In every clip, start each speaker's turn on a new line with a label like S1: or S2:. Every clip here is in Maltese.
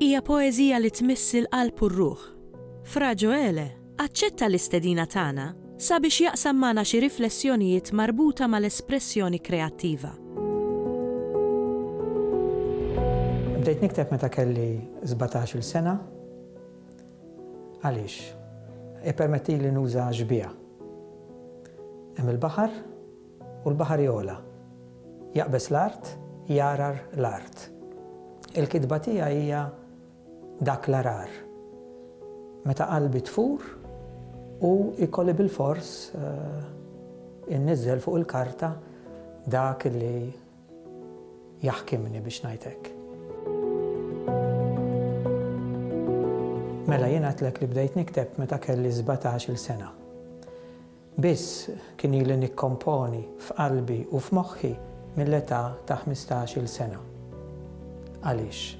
S1: Hija poeżija li tmiss il-qalb u r-ruħ. Fra Ġoele aċċetta l-istedina tagħna sabiex jaqsam magħna xi riflessjonijiet marbuta mal-espressjoni kreattiva.
S2: Bdejt nikteb meta kelli sbatax-il sena. Għaliex? Ippermettili nuża xbieha. Hemm il-baħar. U l-baħar jogħla. Jaqbeż l-art, jgħargħar l-art. Il-kitba tiegħi hija dak l-għargħar. Meta qalbi tfur, hu jkolli bilfors inniżżel fuq il-karta dak li jaħkimni biex ngħid hekk. Mela jien għedtlek li bdejt nikteb meta kelli sbatax-il sena. Biss kien ili nikkomponi f'qalbi u f'moħħi mill-età ta' ħmistax-il sena. Għaliex?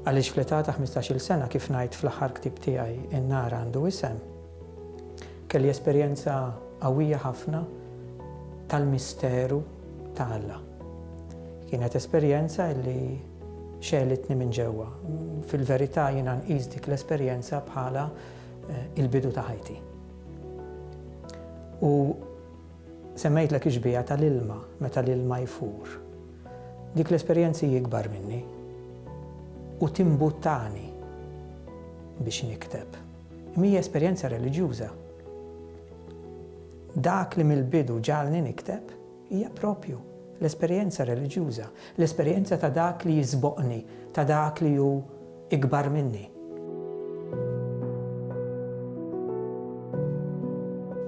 S2: Għaliex fl-età ta' ħmistax-il sena, kif ngħid fl-aħħar ktieb tiegħi In-Nar Għandu Isem, kelli esperjenza qawwija ħafna tal-misteru ta' Alla. Kienet esperjenza li xegħlitni minn ġewwa. Fil-verità jiena nqis dik l-esperjenza bħala l-bidu ta' ħajti. U semmejtlek ix-xbieha tal-ilma meta l-ilma jfur. Dik l-esperjenza hi ikbar minni u timbuttani biex nikteb. Imma hija esperjenza reliġjuża. Dak li mill-bidu ġagħalni nikteb, Hija proprju l-esperjenza reliġjuża, l-esperjenza ta' dak li jisboqni, ta' dak li hu ikbar minni.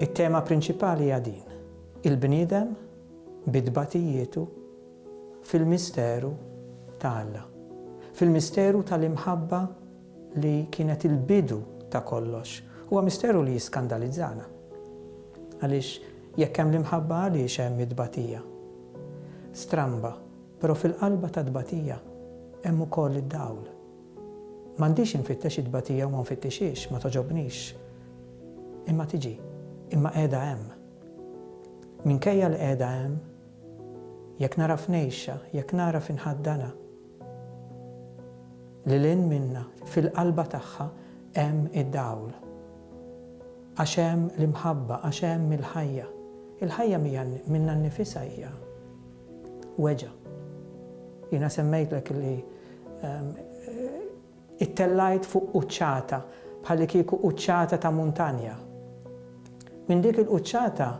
S2: It-tema prinċipali hija din, il-bniedem bi tbatijietu fil-misteru ta' Alla, fil-misteru tal-imħabba li kienet il-bidu ta' kollox, huwa misteru li jiskandalizzana. Għaliex jekk hemm l-imħabba għaliex hemm it-tbatija? Stramba, però fil-qalba tat-tbatija hemm ukoll id-dawl. M'għandix infittex it-tbatija u ma nfittixhiex, ma togħġobnix. Imma tiġi, imma qiegħda hemm. Minkejja li qiegħda hemm, jekk nagħraf ngħixha, jekk nagħraf inħaddanha, Lil hinn minna, fil-qalba tagħha hemm id-dawl. Għax hemm l-imħabba, għax hemm il-ħajja. Il-ħajja minnha nnifisha hija weġgħa. Jiena semmejtlek li Ittellajt fuq quċċata, bħallikieku quċċata ta' muntanja. Minn dik il-quċċata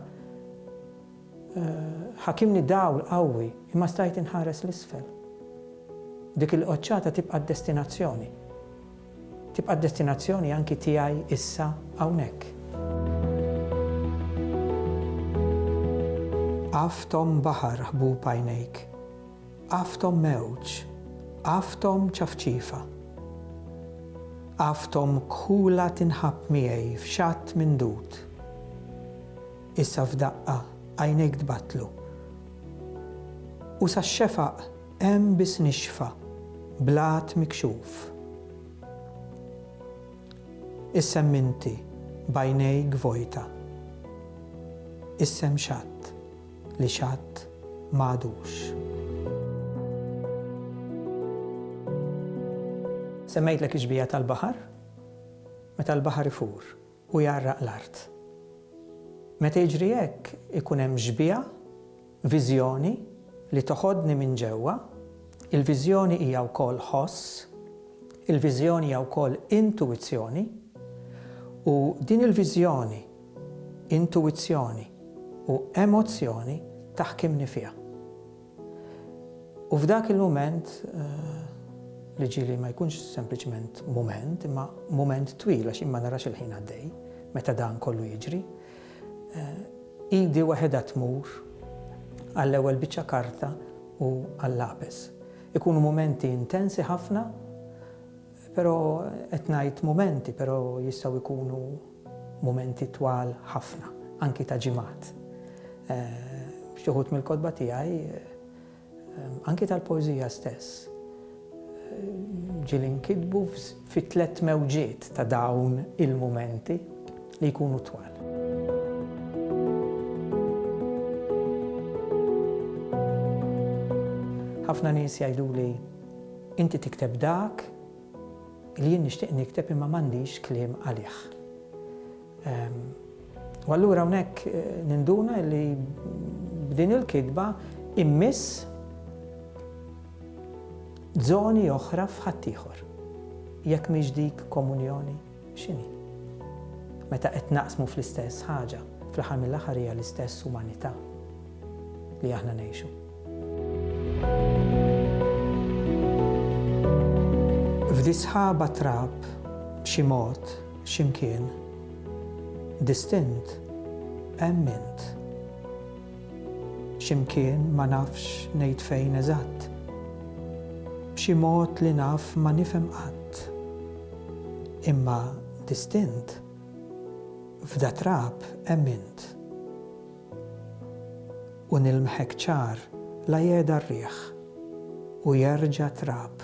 S2: ħakimni dawl qawwi, imma stajt inħares 'l isfel. Dik il-qoċċata tibqa' d-destinazzjoni. Tibqa' d-destinazzjoni anki tiegħi issa hawnhekk. Af tom baħar ħbub għajnejk. Għafthom mewġ, għafthom ċafċifa. Għafthom kħula tinħabb miegħi f'xatt mindud. Issa f'daqqa għajnejk tbattlu. U sax-xefaq hemm biss nixfa, blat mikxuf. Issa hemm inti b'għajnejk vojta. Issa hemm xatt li x'għadd m'għadux. Semmejtlek ix-xbieha tal-baħar, meta l-baħar ifur u jgħarraq l-art. Meta jiġri hekk ikun hemm xbieha, viżjoni li toħodni minn ġewwa, il-viżjoni hija wkoll ħoss, il-viżjoni hija wkoll intuwizzjoni, u din il-viżjoni intuwizzjoni u emozzjoni taħkimni fiha. U f'dak il-mument, li ġieli ma jkunx sempliċement mument, imma mument twil għax jien ma narax il-ħin għaddej meta dan kollu jiġri, idi waħedha tmur għall-ewwel biċċa karta u għal-lapes. Ikunu mumenti intensi ħafna, Pero qed ngħid mumenti pero jistgħu jkunu mumenti twal ħafna, anki ta' ġimgħat. F'xi wħud mill-kotba tiegħi, anki tal-poeżija stess, ġieli nkitbu fi tliet mewġiet ta' dawn il-mumenti li jkunu twal. Ħafna nies jgħiduli, Inti tikteb dak li jien nixtieq nikteb imma m'għandix kliem għalih. U allura hawnhekk ninduna li b'din il-kitba immiss żoni oħra f'ħaddieħor. Jekk mhix dik komunjoni? X'inhi? Meta qed naqsmu fl-istess ħaġa, fl-aħħar mill-aħħar hija l-istess umanità li aħna ngħixu. F'disħaba trab, b'xi mod, x'imkien, distint, hemm int. Xi mkien ma nafx ngħid fejn eżatt. B'xi mod li naf ma nifhem qatt. Imma distint, f'da trab hemm int. U nilmħek ċar la jehda r-riħ u jerġa' trab.